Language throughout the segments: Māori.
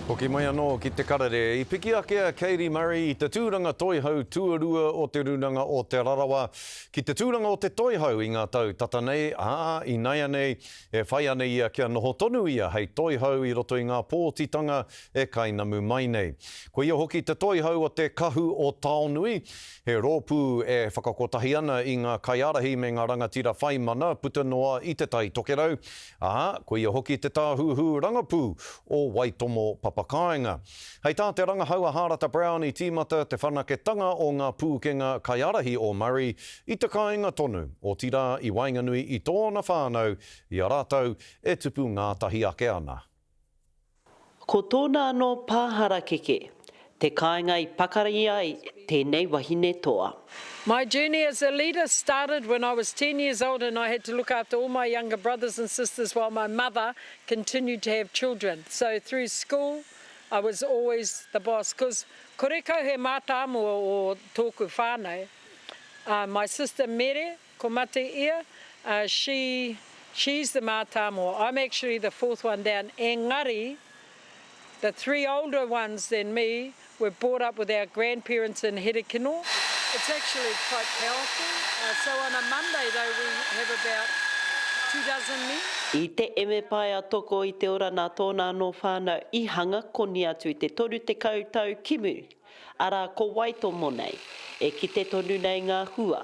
Hoki mai anō ki te karere, i piki ake a Katie Murray i te tūranga toihau tuarua o Te Rūnanga o Te Rarawa ki te tūranga o te toihau i ngā tau tata nei, ā, inaianei e whai ana ia kia noho tonu ia hei toihau i roto i ngā pōtitanga e kainamu mai nei. Ko ia hoki te toihau o te Kahu o Taonui, He rōpū e whakakotahi ana i ngā kaiārahi me ngā rangatira whai mana puta noa i Te Tai Tokerau, ā, ko ia hoki te tāhuhu rangapū o Waitomo Papakāinga. Hei tā te rangahau a Hārata Brown i tīmata te whanaketanga o ngā pūkenga kaiārahi o Murray i te kāinga tonu, otirā i waenganui i tōna whānau i a rātou e tupu ngātahi ake ana. Ko tōna anō pā harakeke, te kāinga i pakari ai tēnei wahine toa. My journey as a leader started when I was ten years old and I had to look after all my younger brothers and sisters while my mother continued to have children. So through school I was always the boss cause kore kau he mātāmua o tōku whānau. My sister Mere Ko mate ia, a, she, she's the mātāmua, I'm actually the fourth one down, engari, the three older ones than me were brought up with our grandparents in Herekino, it's actually quite powerful, a, so on a Monday though we have about two dozen men. I te Emepaea Toko i te Ora nā tōna anō whānau i hanga koni atu i te 30 tau ki muri, arā, ko wai tō monei? E kite tonu nei ngā hua,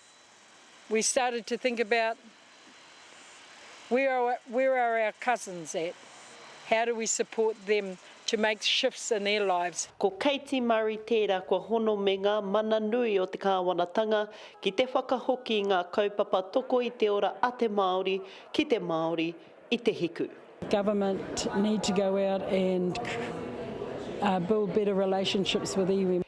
we started to think about where are where are our cousins at, how do we support them to make shifts in their lives. Ko Katie Murray tērā kua hono me ngā mana nui o te kāwanatanga ki te whakahoki i ngā kaupapa toko i te ora a te Māori ki te Māori i te hiku. Government need to go out and build better relationships with iwi.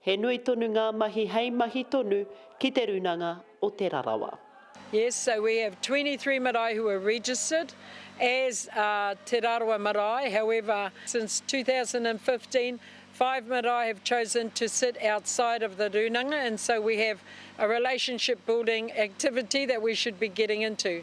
He nui tonu ngā mahi hei mahi tonu ki Te Runanga o Te Rarawa. Yes so we have twenty three marae who are registered as Te Rarawa marae however since two thousand and fifteen five marae have chosen to sit outside of the Runanga and so we have a relationship building activity that we should be getting into.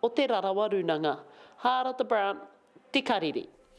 o Te Rarawa Runanga, Haarata Brown, Te Kariri.